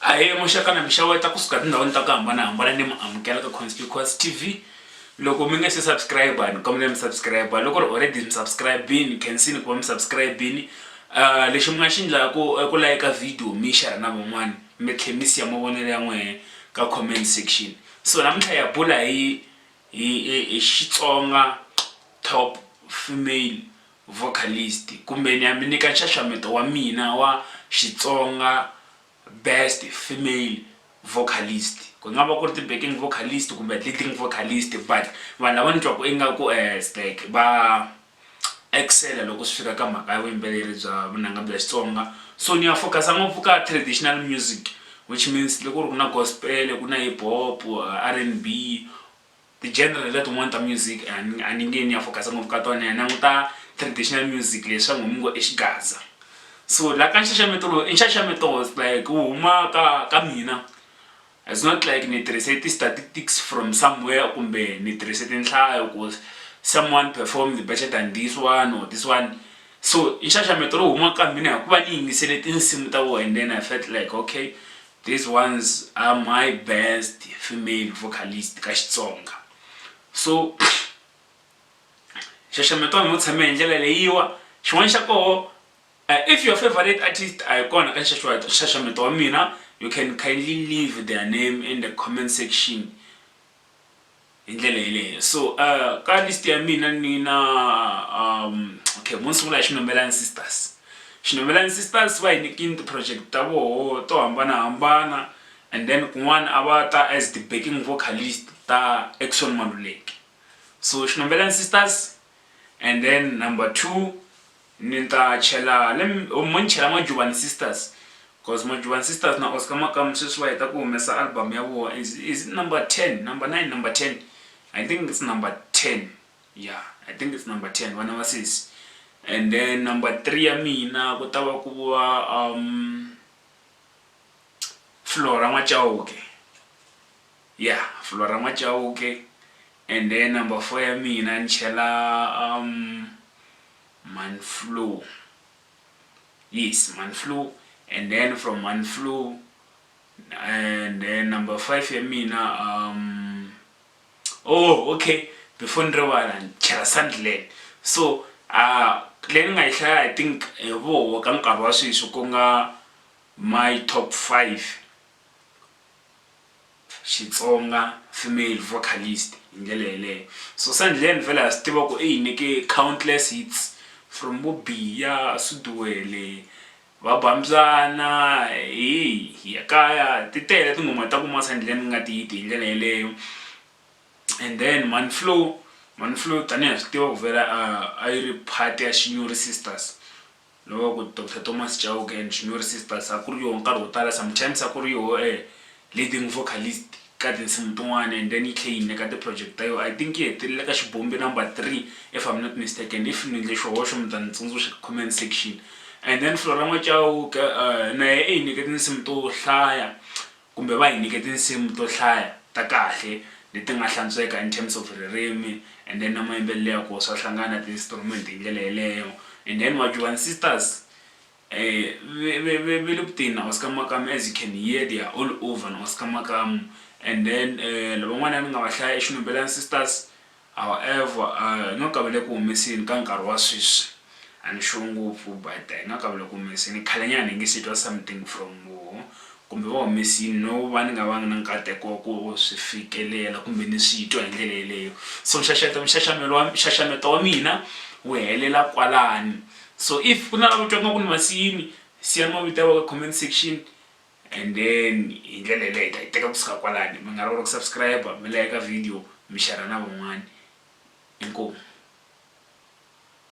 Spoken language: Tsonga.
Ahee muxaka na mixaweta kusuka tindhawini ta ku hambanahambana ni mi amukela ka conspicuous tv loko mi nge se subscribe ni kombela mi subscribe loko ri already mi subscribini khensini ku va mi subscribini uh, lexi mi nga xi ndlaku i ku layika video mi xera na van'wana mi tlhe mi siya mavonelo ya n'wehe ka comment section so namuntlha ya bula hi hi xitsonga top female Vocalist, Kumbe ni ya mi nyika nxaxameto wa mina wa Xitsonga Best Female Vocalist. Ku nga va ku ri ti-backing vocalist kumbe leading vocalist but vanhu lava ni twaku ingaku like va excel-a loko swi fika ka mhaka ya vuyimbeleri bya vunanga bya Xitsonga so ni ya focus-a ngopfu ka traditional music which means loko ku ri ku na gospel-e, ku na hip hop, R_N_B Ti-genre letin'wani ta music a ni a ni nge ni ya focus-a ngopfu ka tona ni ya languta traditional music leyi swa ngomu ngo i xigaza so la ka nxaxameto lowu i nxaxameto like wu huma ka ka mina it's not like ni tirhise ti-statistics from somewhere kumbe ni tirhise tinhlayo ku someone performed better than this one or this one so i nxaxameto lowu humaka ka mina hikuva ni yingisele tinsimu ta vona and then I felt like okay. These ones are my best female vocalist ka Xitsonga. So xaxameto a mi tshame hi ndlela leyiwa xin'wana xa koho Uh, if your favorite artist are gone ka xaxameta wa mina you can kindly leave their name in the comment section hi ndlela yeleyo so uh, ka list ya mina ni na um, okay mo ni sungula hi xinomelani sisters xinomelani sisters va hi nikini ti-project ta voho to hambanahambana and then kun'wana a va ta as the backing vocalist ta action maluleki so xinomelani sisters and then number two Ni ta chela le mo ni chela Majubani Sisters coz Majubani Sisters na Oscar Makamu sweswi va heta ku humesa album ya voho is is it number ten, number nine, number ten I think it's number ten ya I think it's number ten vana va sesi and then number three ya mina ku ta va ku va Flora N'wachauke ya Flora N'wachauke and then number four ya mina ni chela . Manflu, yes Manflu and then from Manflu and then number 5 ya mina um oh okay before ni rivala ni chela Sunderland so uh leyi ni nga yi hlaya i think hi voho ka nkarhi wa sweswi ku nga my top 5 Xitsonga, female vocalist, hi ndlela yeleyo. Susa Ndlhen vhele ha swi tiva ku i hi nyike countless hits from vo Biya, Suduwele, va ba mbyana, hi hi ya kaya, ti tele tinghoma ta ku Masa Ndlhen ku nga ti-hit hi ndlela yeleyo. And then Mhani Flow, Mhani Flow tanihi ha swi tiva ku vhela a a yi ri part ya Xinyori Sisters Loko Doctor Thomas Chauke and Shinyori Sisters a ku ri yoho nkarhi wo tala, sometimes a ku ri yoho e leading vocalist ka tinsimu tin'wana and then yi tlhe yi hi nyika ti-project ta yoho. I think yi hetelele ka Xibombi number three if I'm not mistaken, if ni endle xihoxo mi ta ni tsundzuxa ka comment section. And then Flora N'wa Chauke na yehe i hi nyike tinsimu to hlaya Kumbe va hi nyike tinsimu to hlaya ta kahle leti nga hlantsweka in terms of ririmi and then na mayimbelelo ya koho swa hlangana na ti instrument hi ndlela yeleyo and then Majuvan Sisters ve le ku teni na Oscar Makamu as you can hear they are all over na Oscar Makamu and then lavan'wanyana ni nga va hlaya i Xinhombelani Sisters However, a hi nga kaveli eku humeseni ka nkarhi wa sweswi. A ni sure ngopfu but a hi nga kaveli eku humeseni. Khalenyana hi nge se twa something from voho kumbe va humese yini no va ni nga vanga na nkateko wa ku swi fikelela kumbe ni swi twa hi ndlela yeleyo. So nxaxeto nxaxamelo wa nxaxameto wa mina wu helela kwalano. So if ku na lava twaka nga ku ni ma siyini siyani mavito ya vona ka comment section and then hi ndlela yeleyo hi ta yi teka kusuka kwalani mi nga rivala ku subscribe mi layeka video mi xera na van'wani inkomu